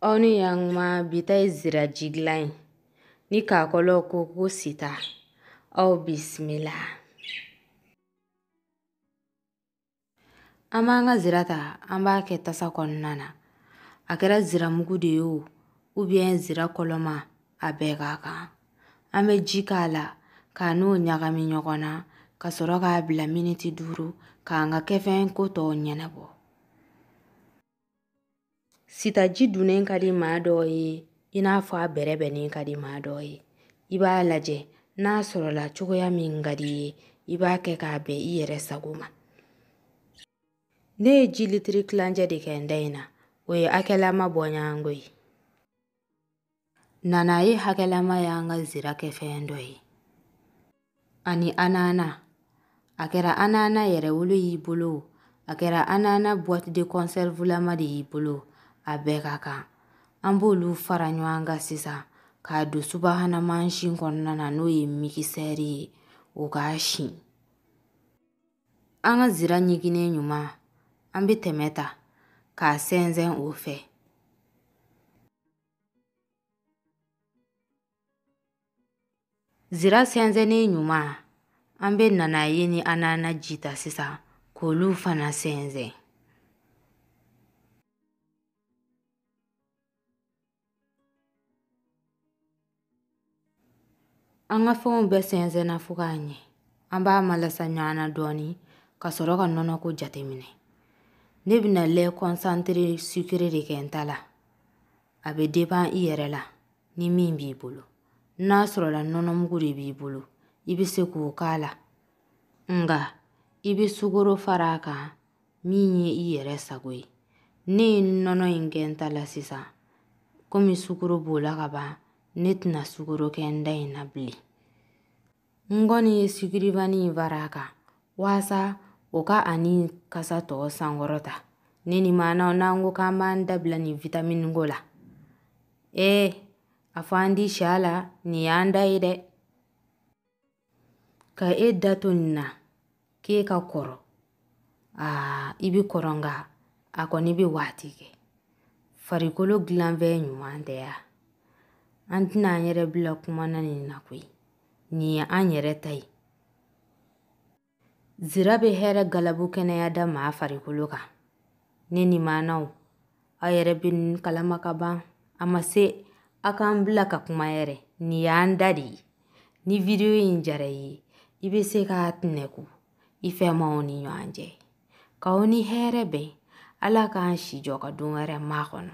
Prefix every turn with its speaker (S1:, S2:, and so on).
S1: aw ni yankuma bi ta ye ziraji dilan ye ni kakɔlɔw ko ko sita aw bisimila an b'an ka zira ta an b'a kɛ tasa kɔnɔna na a kɛra ziramugu de ye o ubiyɛn zira kɔlɔma a bɛɛ ka kan an bɛ ji k'a la k'a n'o ɲagami ɲɔgɔn na ka sɔrɔ k'a bila miniti duuru k'an ka kɛfɛn ko tɔw ɲɛnabɔ sitaji dunnen ka di maa dɔw ye i n'a fɔ a bɛrɛ bɛnnen ka di maa dɔw ye i b'a lajɛ n'a sɔrɔla cogoya min ka di i ye i b'a kɛ k'a bɛn i yɛrɛ sago ma ne ye ji litiri kilancɛ de kɛ n ta in na o ye hakɛlama bɔɲɔgɔnko ye Nanaye hakɛlama y'an ka zira kɛfɛn dɔ ye ani anana a kɛra anana yɛrɛwolo y'i bolo a kɛra anana boite de conserve lama de y'i bolo a bɛɛ ka kan an b'olu fara ɲɔgɔn kan sisan k'a don subahana mansin kɔnɔna na n'o ye mikisɛri ye o k'a si an ka zira ɲiginnen ɲuman an bɛ tɛmɛ ta k'a sɛnsɛn o fɛ Zira sɛnsɛnnen ɲuman an bɛ nanaye ni anana ji ta sisan k'olu fana sɛnsɛn An ka fɛnw bɛɛ sɛnsɛnna fo ka ɲɛ an b'a malasa ɲɔgɔn na dɔɔni ka sɔrɔ ka nɔnɔ ko jateminɛ ne bɛna lɛ kɔnsantere sukere de kɛ n ta la a bɛ depan i yɛrɛ la ni min b'i bolo n'a sɔrɔla nɔnɔmugu de b'i bolo i bɛ se k'o k'a la nka i bɛ sukoro fara a kan min ye i yɛrɛ sago ye ne ye nɔnɔ in kɛ n ta la sisan komi sukoro b'o la ka ban ne tɛna sukoro kɛ n ta in na bilen n kɔni ye sucre vanille in fara a kan waasa o ka ani kasa tɔ sankɔrɔta ne ni maanaw n'an ko k'an b'an da bila nin vitamini ko la ee a fɔ an di si a la nin y'an ta ye dɛ ka e da to nin na k'e ka kɔrɔ aa i bɛ kɔrɔ nka a kɔni bɛ waati kɛ farikolo dilanfɛn ɲuman tɛ ya an tɛna an yɛrɛ bila kuma na nin na koyi nin ye an yɛrɛ ta ye Zira bɛ hɛrɛ galabu kɛnɛya da maa farikolo kan. Ne ni maanaw, aw yɛrɛ bɛ nin kalama kaban. A ma se aw k'an bila ka kuma yɛrɛ. Nin y'an dan de ye. Ni video in diyara i ye, i bɛ se k'a tɛnɛku i fɛmaw ni ɲɔgɔn cɛ. K'aw ni hɛrɛ bɛn, Ala k'an si jɔ ka don wɛrɛ makɔnɔ.